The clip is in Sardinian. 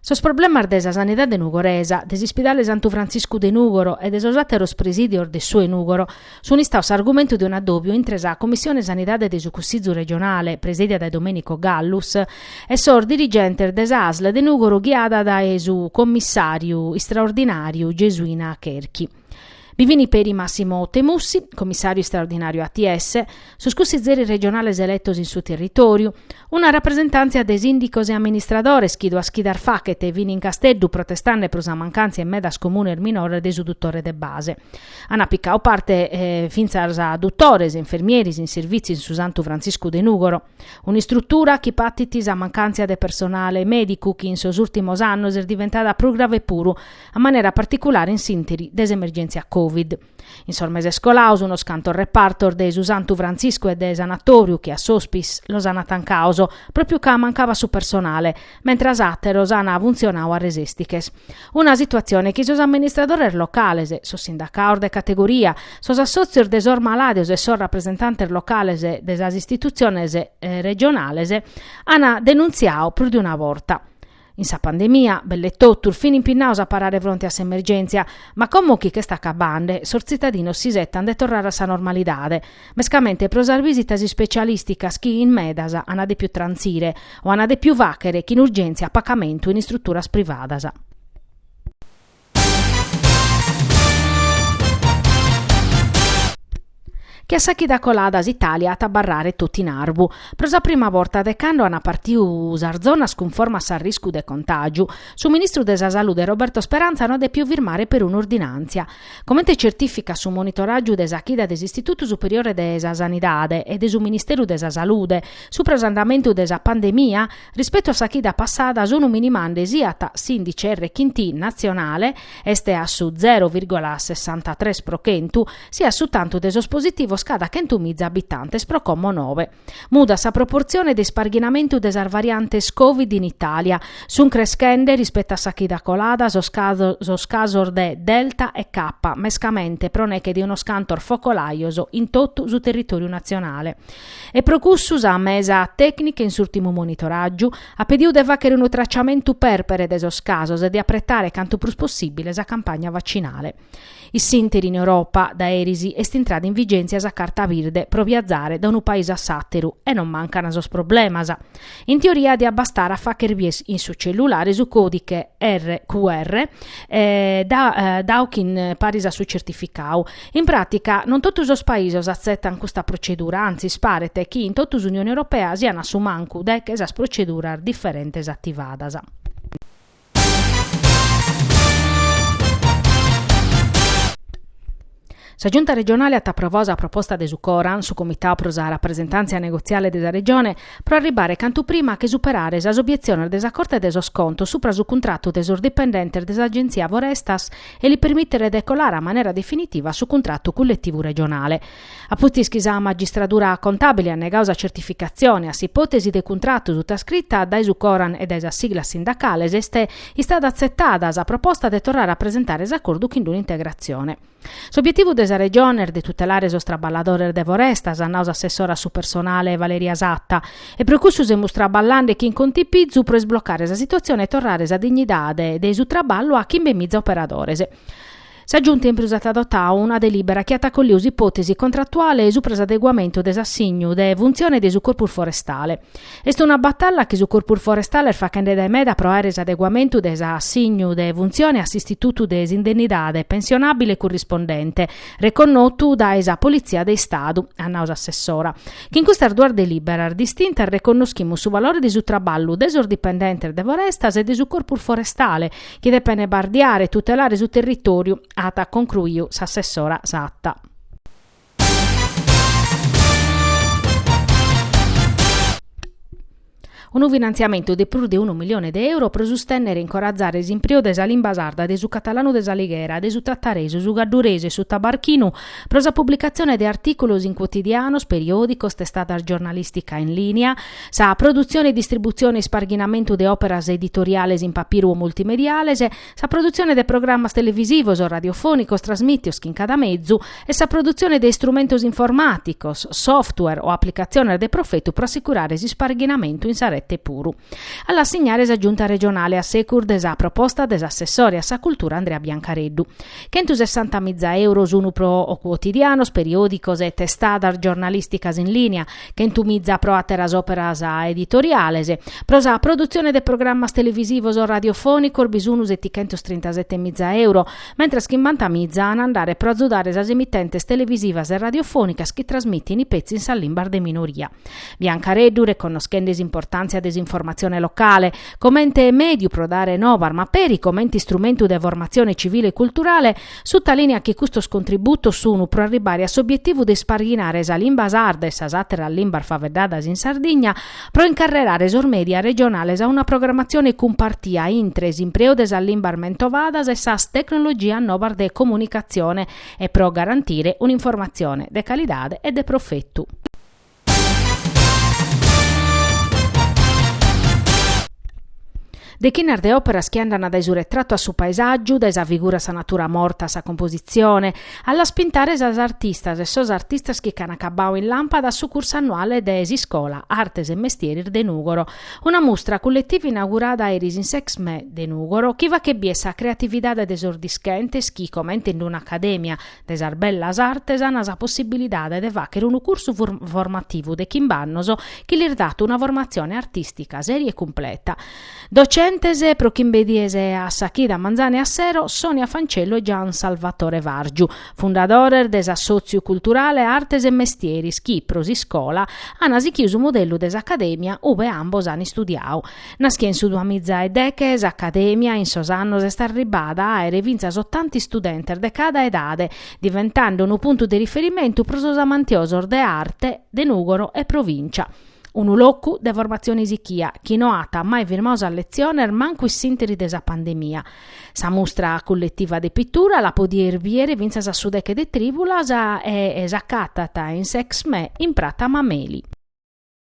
Sos problemas de sa sanidade nugoresa, de s'ispidale Santu Frantziscu de Nùgoro e de sos àteros presìdios de su 'e Nùgoro sunt istados s'argumentu de un'adòbiu intre sa Comissione Sanidade de su Cussizu Regionale, presèdia dae Domenico Gallus, e sos dirigentes de sa Asl de Nùgoro ghiada dae su commissàriu istraordinàriu Gesuina Cherchi. Bi fini peri Massimo Temussi, comissàriu istraordinàriu ATS, sos cussizeris regionales eletos in su territòriu, una rapresentàntzia de sìndicos e amministradores chi duas chidas faghet fini in Casteddu protestande pro sa mancàntzia in medas comunes minores de su dutore de base. Ant picadu parte fintzas dutores e infermieris in servìtziu in su Santu Frantziscu de Nùgoro. Un'istrutura chi patit sa mancàntzia de personale mèdicu chi in sos ùrtimos annos est diventada prus grave puru, a manera particulare in s'ìnteri de s'emergèntzia Covid. In sos meses colados unos cantos repartos de su Santu Frantziscu e de Sanatòriu che a s'Hospice los ant tancados, pròpiu ca mancabat su personale, mentras àteros an funtzionadu a resèstiches. Una situatzione chi sos amministradores locales, sos sindacados de categoria, sos assòtzios de sos malàdios e sos rapresentantes locales de sas istitutziones regionales an denuntziadu prus de una borta. In sa pandemia, belle totus, fin impinnados a parare fronte a s'emergèntzia, ma como chi ch'est acabande, sos tzitadinos s'isetan de torrare a sa normalidade, mescamente pro sas visitas ispecialìsticas chi in medas ant dèpiu trantzire o ant dèpiu fàghere chin urgèntzia a pagamentu in istruturas privadas. Che a sa chida colada s'Itàlia at a abarrare totu in arvu. Pro sa prima borta de cando ant partiu sas zonas cunforma a s'arriscu de contàgiu, su ministru de sa Salude Roberto Speranza no at dèpiu firmare perun'ordinàntzia, comente certificat su monitoràgiu de sa chida de s'Istitutu Superiore de sa Sanidade e de su Ministeru de sa Salude supra s'andamentu de sa pandemia rispetu a sa chida passada sunu minimande siat s'indice R chin T natzionale est a su zero virgola sessantatres pro chentu siat su tantu de sos positivos cada chentu miza abitantes pro como nobe. Mudat sa proportzione de isparghinamentu de sas variantes Covid in Itàlia. Sunt creschende, rispetu a sa chida colada, sos casos de Delta e Kappa, mescamente pro neche de unos cantos focolajos in totu su territòriu natzionale. E pro cussu sa mesa tècnica in s'ùrtimu monitoràgiu at pedidu de fàghere unu traciamentu pèrpere de sos casos e de apretare cantu prus possìbile sa campagna vacinale. Issinteri in Europa, dae erisi, est intrada in vigèntzia sa carta birde pro biazare da unu paise a s'àteru e non mancan sos problemas. In teoria diat bastare a fàghere bier in su cellulare su còdighe RQR dadu paris a su certificadu. In pràtica, non totu sos paisos atzetan custa procedura, antzis paret chi in totu s'Unione Europea sian a su mancu deche sas proceduras diferentes ativadas. Sa Giunta regionale at aprovadu sa proposta de su Coran, su Comitau pro sa rapresentàntzia negotziale de sa Regione, pro arribare cantu prima a che superare sas obietziones de sa Corte de sos Contos supra su cuntratu de sos dipendentes de s'Agenzia Forestas e li permìtere de colare a manera definitiva a su cuntratu culletivu regionale. A pustis chi sa magistradura contàbile at negadu sa certificatzione a s'ipòtesi de cuntratu sutascrita dae su Coran e dae sas siglas sindacales, est istada atzetada sa proposta de torrare a presentare s'acordu chin d'un'integratzione. S'obietivu de sa Regione est de tutelare sos traballadores de Forestas, at nadu s'assessora a su personale Valeria Satta, e pro cussu semus traballende chin contipizu pro isblocare sa situatzione e torrare sa dignidade de su traballu a chimbe miza operadores. Sa Giunta in prus at adotau una delìbera chi at acolliu s'ipòtesi contratuale supra s'adeguamentu de s'assignu de funtzione de su Corpus Forestale. Est una batalla chi su Corpus Forestale est faghende dae meda pro àere s'adeguamentu de s'assignu de funtzione a s'istitutu de s'indennidade pensionàbile currispondente, reconnotu dae sa Politzia de Istadu, at nau s'assessora. Chin custas duas delìberas distintas reconnoschimus su valore de su traballu de sos dipendentes de Forestas e de su Corpus Forestale, chi depen bardiare e tutelare su territòriu, at concruiu s'assessora Satta. Unu finantziamentu de prus de unu milione de euro pro sustènnere e incorazare s'impreu de sa limba sarda, de su catalanu de s'Alighera, de su tataresu, su cadduresu e su tabarchinu, pro sa publicatzione de artìculos in cuotidianos, periòdicos, testadas giornalìstica in lìnia, Sa produtzione e distributzione e isparghinamentu de òperas editoriales in papiru o multimediales, sa produtzione de programmas televisivos o radiofònicos trasmìtios chin cada mezu e sa produtzione de istrumentos informàticos, software o aplicatziones de profetu pro assicurare s'isparghinamentu in sa rete puru. A l'assignare sa Giunta regionale a secus de sa proposta de s'assessore a sa cultura Andrea Biancareddu. Chentosessanta miza euro sun pro cuotidianos, periòdicos e testadas giornalìsticas in lìnia, Chentu miza pro àteras òperas editoriales. Pro sa produtzione de programmas televisivos o radiofònicos bi sun setighentos trintasete miza euro, mentras chimbanta miza an a andare pro azudare sas emitentes televisivas e radiofònicas chi trasmitin petzi in sas limbas de minoria. Biancareddu, reconnoschende s'importàntzia de s'informatzione locale, comente mèdiu pro dare nobas ma peri comente istrumentu de formatzione tzivile e culturale, Sutalìnea chi custos contributos sunu pro arribare a s'obietivu de isparghinare sa limba sarda e sas àteras limbas faeddadas in Sardigna pro incarrerare sos mèdia regionales a una programatzione cumpartia intre s'impreu de sas limbas mentovadas e sas tecnologias novas de comunicatzione e pro garantire un'informatzione de calidade e de profetu. Dechinas de òperas chi andant dae su retratu a su paesàgiu, dae sa figura sa natura morta a sa compositzione, a las pintares sas artistas e sos artistas chi ch'an acabau in làmpada a su cursu annuale de s'Iscola Artes e Mestieris de Nùgoro, una mustra culletiva inaugurada eris in s'Exme de Nùgoro chi fachet bìere sa creatividade de sos dischentes chi, comente in una acadèmia, de sas bellas artes an sa possibilidade de fàchere unu cursu formativu de chimbe annos chi lis dat una formatzione artìstica sèria e cumpleta. Docentes pro chimbe dies a sa chida manzane a sero, Sonia Fancello e Gian Salvatore Vargiu, fundadores de s'assòtziu culturale Artes e Mestieris chi, pro s'iscola, an sichiu su modellu de s'acadèmia ue ambos an istudiau, Naschia in su duamiza e deche, s'Acadèmia in sos annos est arribbada a àere fintzas otanta istudentes de cada edade, diventande unu puntu de riferimentu pro sos amantiosos de arte de Nùgoro e provìncia. Unu locu de formatzione sichia chi no at mai firmu sas letziones mancu in s'ìnteri de sa pandemia. Sa mustra culletiva de pitura la podies bìere fintzas a su deche de Trìvulas e s'acatat in s'Exmè in Prata Mameli.